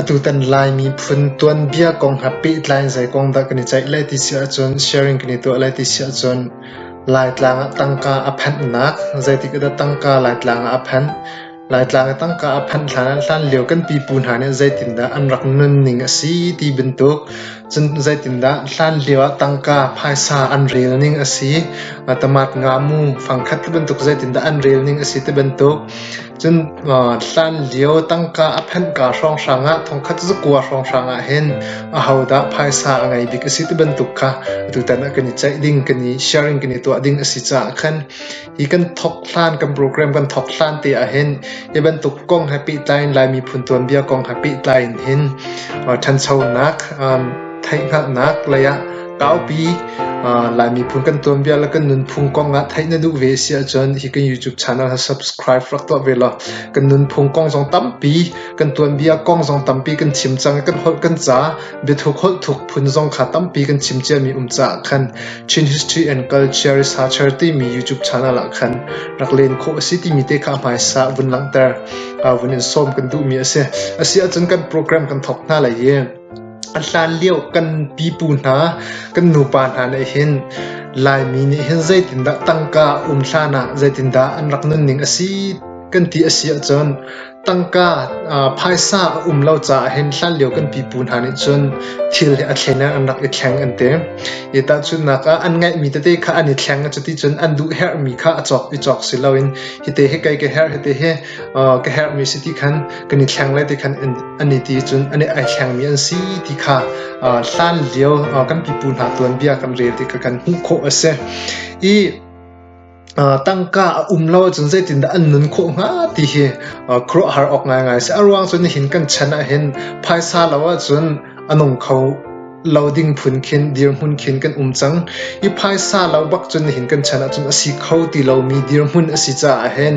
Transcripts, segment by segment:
Atutan Laimi phun tuanbia kong he pehtlai in zei kong dah kan i ceih lai ti si ahcun sharing kan i tuah lai ti si ahcun Laitlang ah tangka a phanhnak zeitik ah dah tangka Laitlang ah a phanh, Laitlang i tangka a phanh hlan ah hlan lio kan pipu hna nih zeitindah an rak nunning a si ti bantuk. Cun zeitindah hlanlio ah tangka phaisa an rel ning a si, tamat nga mu fangkhat ti bantuk zeitindah an rel ning a si ti bantuk. Cun hlanlio tangka a phenhka hrawnghrang ah thongkhat zakua hrawnghrang ah hin ahodah phaisa a ngei bik a si ti bantuk kha atutan ah kan i ceih ding, kan i sharing, kan i tuah ding a si caah khan Hi kan thawk hlan kan program kan thawk hlan te ah hin hi bantuk kong he pehtlai in Lai miphun tuanbia kong he pehtlai in hin uh, ṭhanchonak um, theihhngalhnak lei ah kaupi uh, Lai miphun kan tuanbia le kan nunphung kong ah theih na duh ve si ahcun hi kan YouTube channel ha subscribe rak tuah ve law kan nunphung kong zong tampi kan tuanbia kong zong tampi kan chim cang i kan holh kan ca Biathuk holh thuk phun zong kha tampi kan chim ciami um caah khan Chin History and Culture Researcher timi YouTube channel ah khan rak len khawh a si timi te kha hmaisa vun langhter vun in sawm kan duhmi a si. A si ahcun kan program kan thawk hna lai i a hlan lio kan pipu hna kan nupa hna nih hin Laimi nih hin zeitindah tangka um hlan ah zeitindah an rak nunning a si kan ti a si ahcun Tangka phaisa a um lo caah hin hlanlio kan pipu hna nih cun thil hi a thleinak an rak i thleng an ti. Hi tahchunhnak ah an ngeihmi tete kha an i thleng a cuti cun an duh herhmi kha a cawk i cawk si loin hi te hi kei ka herh hi te hi ka herhmi si ti khan kan i thleng le ti khan an i ti cun an i ai thlengmi an si ti kha hlan lio kan pipu hna tuanbia kan rel ti kha kan hmuh khawh a si. I tangka a um lo ahcun zeitindah an nun khawh hnga ti hi khuaruahhar awk ngaingai a si. A ruang cu nihin kan chan ahhin phaisa lo ahcun a nung kho lo ding phun khin dirhmun khin kan um cang. Hi phaisa lo bak cun nihin kan chan ahcun a si kho ti lomi dirhmun a si caah hin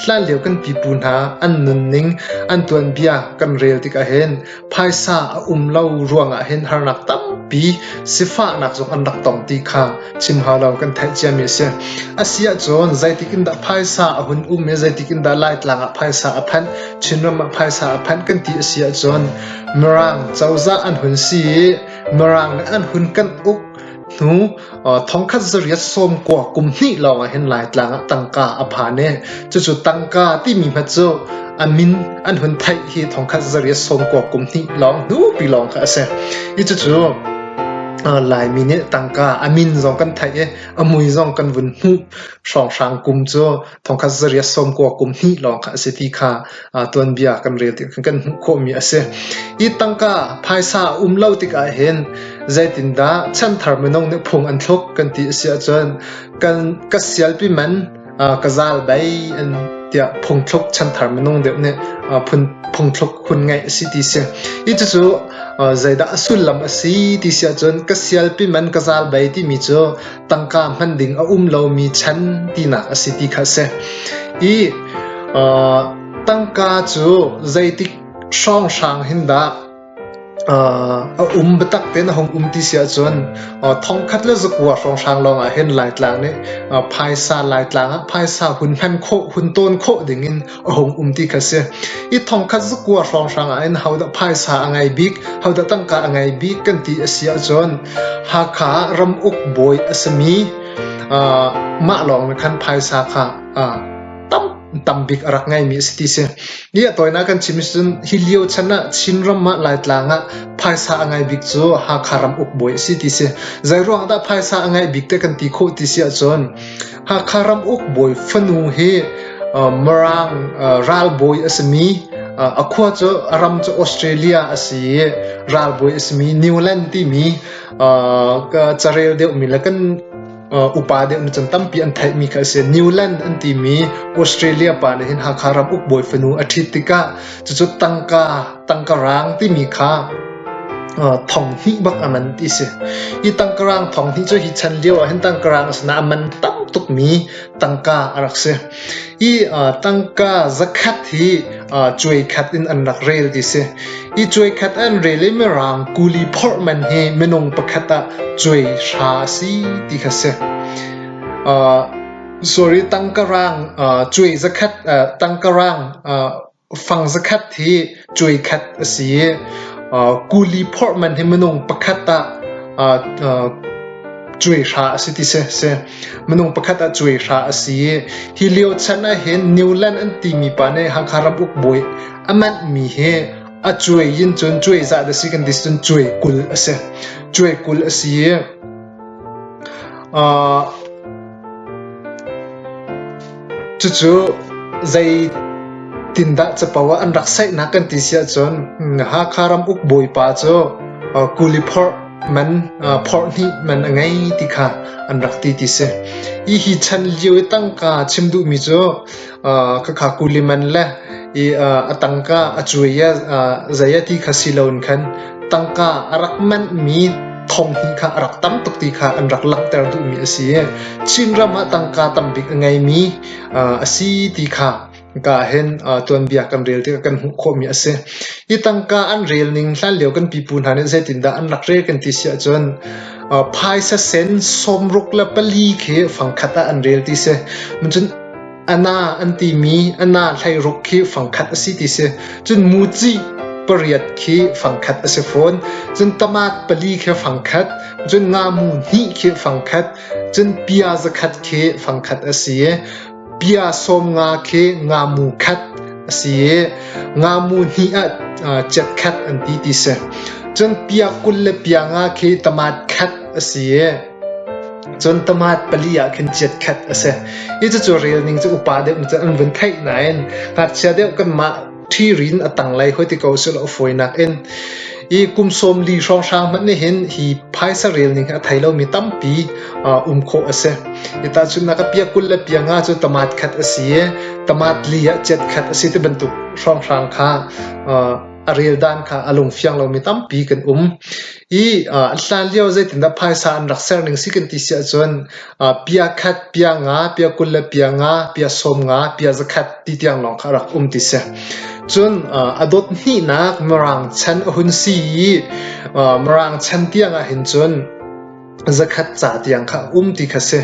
hlanlio kan pipu hna an nunning an tuanbia kan rel tik ahhin Phaisa a um lo ruangah hin harnak tampi sifahnak zong an rak tong ti kha chim hau lo kan theih ciami a si. A si ahcun zeitik in dah phaisa a hun um i zeitik in dah Laitlang ah phaisa a phanh, Chinram ah phaisa a phanh kan ti a si ahcun Mirang cozah an hun si i Mirang nih an hun kan uk Hnu thongkhat zariat sawm kua kum hnih lawng ahhin Laitlang ah tangka a phan i cucu tangka timi hma cu a min an hun theih hi thongkhat zariat sawm kua kum hnih lawng hnupi lawng kha a si. I cucu Laimi nih tangka a min zong kan theih i a mui zong kan vun hmuh hrawnghrang kum cu thongkhat zarih sawmkua kum hnih lawng kha a si ti kha tuanbia kan rel ti kan hmuh khawhmi a si. Hi tangka phaisa um lo tikah hin zeitindah chanthar minung nih phung an thluk kan ti a si ahcun kan ka sialpi man ka zal bai an tiah phungthluk chanthar minung deuh nih phungthluk hun ngeih a si ti si. Hi cucu zeidah a sullam a si ti si ahcun ka sialpi man ka zal bai timi cu tangka hman ding a um lomi chan tinak a si ti kha a si. I uh, tangka cu zeitik hrawnghrang hin dah uh, a um bitak te na hong um ti si ahcun uh, thongkhat le zakua hrawnghrang lawng ah hin laitlang nih uh, phaisa laitlang ah phaisa hun hman khawh hun tawn khawh ding in a hung um ti kha si. Hi thongkhat cu kua hrawnghrang ah in hodah phaisa a ngei bik, hodah tangka a ngei bik kan ti a si ahcun Hakha ah ram uk bawi a simi uh, mah lawng nih khan phaisa kha uh, tam tam bik a rak ngeimi a si ti si. Hi a tawina kan chim cun hi lio chan ah Chinram ah Laitlang ah phaisa a ngai bik cu Hakha ram uk bawi a si ti si. Zei ruang dah phaisa a ngai bik te kan ti khawh ti si ahcun Hakha Ramuk bawi fanu hi Mirang ralbawi a simi, a khua cu a ram cu Australia a si i ralbawi a simi Newland timi carel deuhmi le kan upa deuhmi cun tampi an theihmi kha a si. Newland an timi Australia pa nih hin Hakha Ramuk bawi fanu a ṭhit tikah cucu tangka tangkarang timi kha thong hnih bak a man ti si. Hi tangkarang thong hnih cu hi chan lio ah hin tangkarang sinah a man tam tukmi tangka a rak si. Hi tangka zakhat hi cuai khat in an rak rel ti si. Hi cuai khat an rel i mirang kuli phorh man hi minung pakhat ah cuai hra si ti kha si. sorry tangkarang cuai zakhat tangkarang Fang zakhat hi cuai khat a si i kuli phorh man hi minung pakhat ah cuai hra a si ti si a si. Minung pakhat ah cuai hra a si i hi lio chan ahhin Newland an timi pa nih Hakha ram ukbawi a manhmi hi a cuai in cun cuaizah le si kan ti cun cuai kul a si. Cuai kul a si i Cucu zeitindah capo ah an rak saihnak kan ti si ahcun Hakha ram uk bawipa cu kuli phorh man phorh hnih man a ngei ti kha an rak ti ti si. Hi chan lio i tangka chim duhmi cu Khakha kulim an le i a tangka a cuai i zei a ti kha si loin khan tangka a rak manhmi thonghi kha a rak tam tuk ti kha an rak langhter duhmi a si i Chinram ah tangka tambik a ngeimi a si ti kha ka ahhin tuanbia kan rel tikah kan hmuh khawhmi a si. Hi tangka an rel ning hlanlio kan pipu hna nih zeitindah an rak rel kan ti si ahcun phaisa sen sawmruk le pali khi fangkhat ah an rel ti si. Cun A na an timi a na hleiruk khi fangkhat a si ti si. Cun mucih pariat khi fangkhat a si fawn. Cun tamat pali khi fangkhat. Cun ngamu hnih khi fangkhat. Cun pia zakhat khi fangkhat a si. Pia sawm nga khi ngamu khat a si. Ngamu hnih ah jet khat an ti ti si. Cun pia kul le pia nga khi tamat khat a si. Cun tamat pali ah khin chiatkhat a si i cucu relning cu upa deuh nih cun an vun theih nain ngakchia deuh kanmah ṭhiri in a tanglei hoi ti ko sih law a fawi nakin i kum sawm li hrawnghrang hmanh nih hin hi phaisa relning hi a thei lomi tampi um khawh a si. Hi tahchun na ka piah kul le piah nga cu tamat khat a si i tamat li ah chiatkhat a si ti bantuk hrawnghrang kha a reldan kha a lungfiang lomi tampi kan um i an hlan lio zeitindah phaisa an rak ser ning si kan ti si ahcun pia khat pia nga pia kul le pia nga pia sawm nga pia zakhat ti tiang lawng kha rak um ti si cun a dot hnihnak mirang chan a hun si i mirang chan tiang ah hin cun zakhat ca tiang kha a um ti kha si.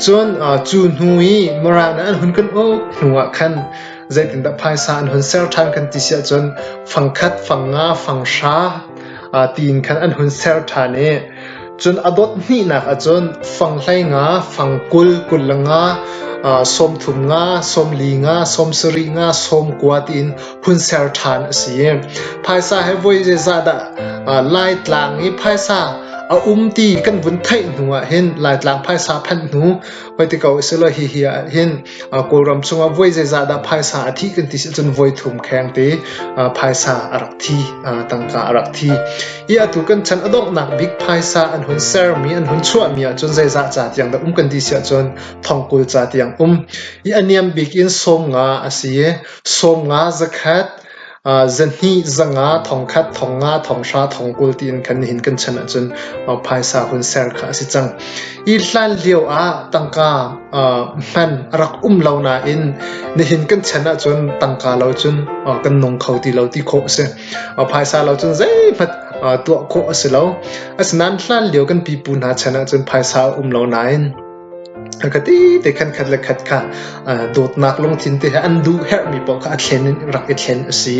Cun cu hnu i Mirang an hun kan uk hnuah khan zeitindah phaisa an hun ser ṭhan kan ti si ahcun fangkhat, fanga, fanghra tiin khan an hun ser ṭhan i cun a dot hnihnak ahcun fanghlei nga, fangkul, kullanga, sawmthum nga, sawmli nga, sawmsari nga, sawmkua tiin hun ser ṭhan a si. Phaisa he voi zeizah dah Laitlang i phaisa a um ti kan vun theih hnu ah hin Laitlang phaisa phanh hnu hoi ti ko si lo hihi ah hin Kawlram chungah voi zeizah dah phaisa a thi kan ti si cun voi thum kheng te phaisa a rak thi tangka a rak thi i atu kan chan a donghnak bik phaisa an hun sermi an hun chuahmi ahcun zeizah ca tiang dah um kan ti si ahcun thongkul ca tiang um i a niam bik in sawm nga a si Sawm nga zakhat, zahnih zanga, thongkhat, thong nga, thonghra, thongkul tiin kan nihin kan chan ahcun phaisa hun ser kha a si cang. Hi hlan lio ah tangka hman a rak um lo nain nihin kan chan ahcun tangka lo cun kan nung kho ti lo ti khawh a si. Phaisa lo cun zeihmanh tuah khawh a si lo. Asinain hlan lio kan pipu hna chan ahcun phaisa a um lo nain A ka tete khatkhat le khat kha dawtnak lungthin te he an duh herhmi paoh kha a thlen in rak i thlen a si.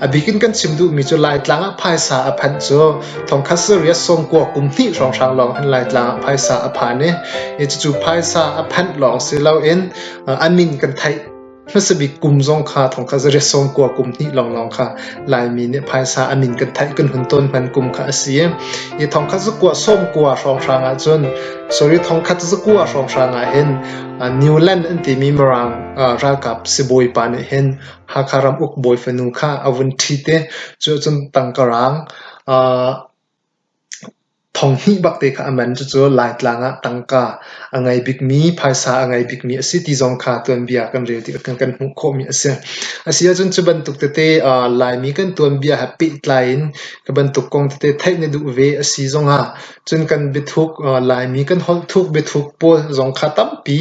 A bik in kan chim duhmi cu Laitlang ah phaisa a phanh cu thongkhat serious sawmkua kum hnih hrawnghrang lawng in Laitlang ah phaisa a phan i, cucu phaisa a phanh lawng si loin a min kan theih. hmasabik kum zong kha thongkhat zarih sawm kua kum hnih lawnglawng kha Laimi nih phaisa a min kan theih kan hun tawn hman kum kha a si i thongkhat zakua sawm kua hrawnghrang ah cun sorry thongkhat zakua hrawnghrang ah hin Newland an timi Mirang ralkap sibawi pa nih hin Hakha ram uk bawi fanu kha a vun thi te cu cun tangkarang Thong hnih bak te kha a man cucu Laitlang ah tangka a ngei bikmi, phaisa a ngei bikmi a si ti zong kha tuanbia kan rel tikah kan kan hmuh khawhmi a si. A si ahcun cu bantuk tete Laimi kan tuanbia he pehtlai in hi bantuk kong tete theih na duh ve a si zong ah cun kan biathuk Laimi kan holh thuk biathuk pawl zong kha tampi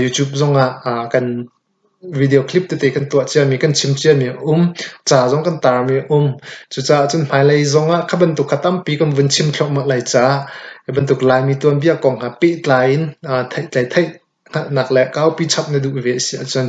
YouTube zong ah kan Video clip tete kan tuah ciami, kan chim ciami a um. Ca zong kan tarmi a um. Cucaah cun hmailei zong ah kha bantuk kha tampi kan vun chim thluahmah lai caah hi bantuk Laimi tuanbia kong kha pehtlai in theihtlai theih nak le kaupi chap na duh ve a si ahcun